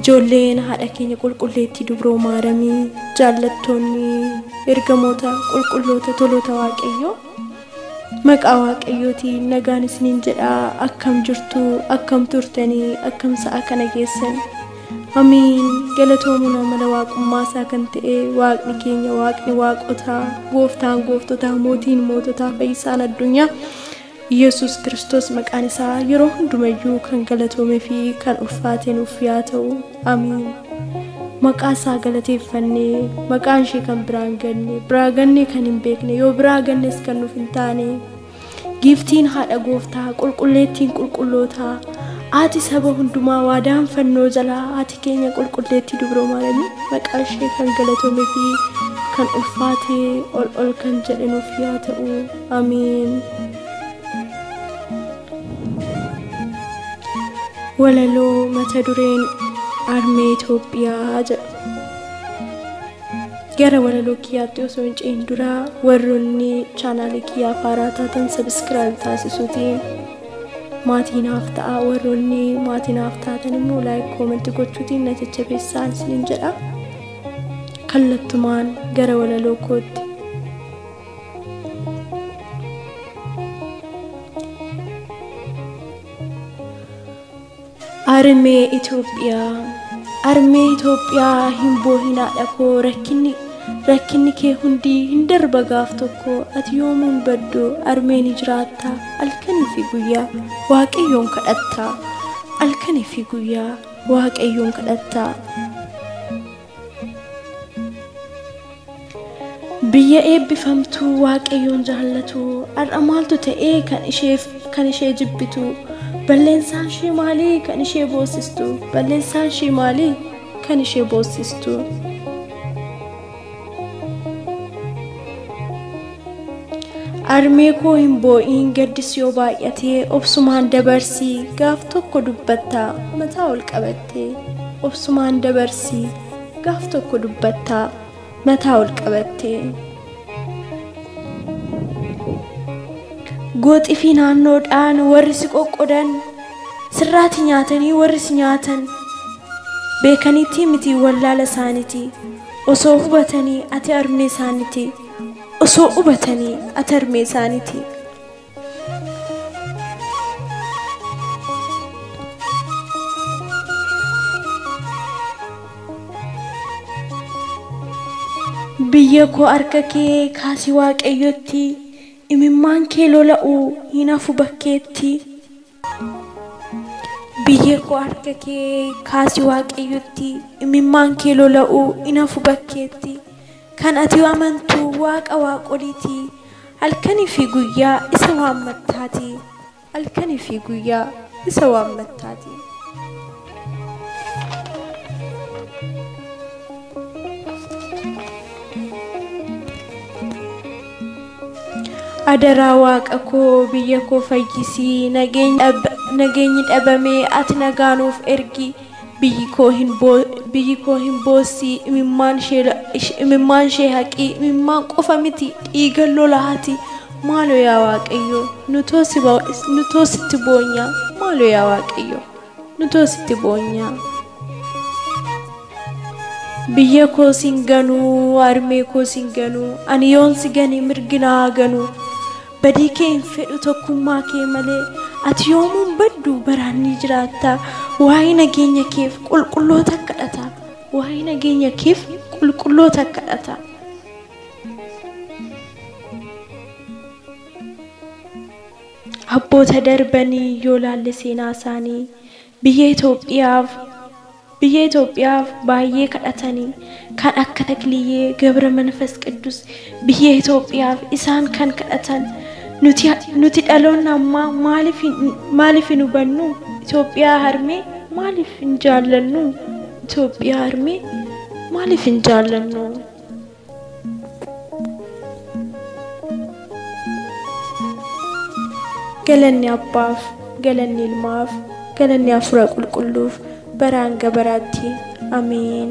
Ijoolleen haadha keenya qulqulleettii dubroo maaramii jaallattoonni ergamoota qulqulloota toloota waaqayyoo maqaa waaqayyootiin nagaan isiniin jedha akkam jirtu akkam turtanii akkam sa'a kana geessan amiin galatoomuun amala waaqummaa isaa kan ta'e waaqni keenya waaqni waaqotaa gooftaan gooftotaa mootiin moototaa fayyisaan addunyaa Yesus Kiristoos maqaan isaa yeroo hundumayyuu kan galatoome fi kan ulfaate nuuf yaa ta'u. Amiin. Maqaa isaa galateeffannee maqaan ishee kan biraan ganne biraa gannee kan hin beekne yoo biraa gannes kan nuuf hin taane giiftiin haadha gooftaa qulqulleettiin qulqullootaa ati saba hundumaa waadaan fannoo jalaa ati keenya qulqulleettii dubroo maaramii maqaa ishee kan galatoome fi kan ulfaatee ol ol kan jedhe nuuf yaa ta'u. Amiin. Walaloo mata dureen Armee Itoophiyaa jedhu. Gara walaloo kiyyaatti osoo hin ce'in dura warroonni chaanaalii kiyyaa faaraa taatan sabiskiraayib taasisuutiin maatii naaf ta'a warroonni maatii naaf taatan immoo laayik koomanti gochuutiin na jajjabeessaa isiniin jedha. Kallattumaan gara walaloo kootti. Armee Itoophiyaa Armee Itoophiyaa hin boohinaa dhakoo rakkinni rakkinni kee hundi hin darba gaaf tokko ati yoomuun baddu armee ni jiraatta halkanii fi guyyaa waaqayyoon kadhatta halkanii fi guyyaa waaqayyoon kadhatta Biyya eebbifamtuu Waaqayyoon jaallatu har'a maaltu ta'ee kan isheef kan ishee jibbitu balleessaan ishee maalii kan ishee boossistu balleessaan ishee maalii kan ishee boossistu. Armee koo hin boo'iin gaddi si yoo baay'ate obsumaan dabarsi gaaf tokko dubbatta mataa ol qabatte obsumaan dabarsi gaaf tokko dubbatta mataa ol qabatte. Gooxifii naannoodhaan warri si qoqqodan sirraati nyaatanii warri si nyaatan beekaniitii miti wallaala isaaniti osoo hubatanii ati armee isaaniti. Osoo hubatanii ati harmee isaaniti. Biyya koo harka kee kaasi waaqayyotti, imimmaan kee lola'u hin hafu bakkeetti. Biyyee koo harka kee kaasi Waaqayyotti, imimmaan kee lola'uu in hafu bakkeetti. Kan ati amantu Waaqa waaqoliiti, halkanii fi guyyaa isa waammattaati. halkanii fi guyyaa isa waammattaati. Adaraa waaqa koo biyya koo fayyisii nageenyi dhab- nageenyi dhabamee ati nagaa nuuf ergi biyyi koo hin boo- biyyi koo hin boossii imimmaan ishee la- ish- imimmaan ishee haqii imimmaan qofa miti dhiiga lolaati maaloo yaa waaqayyo nutoo si ba- nutoo sitti boonyaa maaloo yaa waaqayyo. Nutoo sitti boonyaa. Biyya koo sin ganuu harmee koo sin ganuu ani yoon si gane mirgi na haa ganuu badii kee hin fedhu tokkummaa kee malee ati yoomuun baddu baraan ni jiraatta waa'ee nageenya keef qulqulloota kadhata waa'ee nageenya keef qulqulloota kadhata. Abboota darbanii yoo laalle seenaa isaanii biyya Itoophiyaaf biyya Itoophiyaaf baay'ee kadhatani kan akka Takliyyee Gabra Manfas Qiddus biyya Itoophiyaaf isaan kan kadhatan nuti nuti dhaloonni ammaa maaliif hin maaliif hin hubannu Itoophiyaa harmee maaliif hin jaallannu Itoophiyaa harmee maaliif hin jaallannu. Galanni Abbaaf, galanni Ilmaaf, galanni Hafuura Qulqulluuf baraa hanga baraatti. Ameen.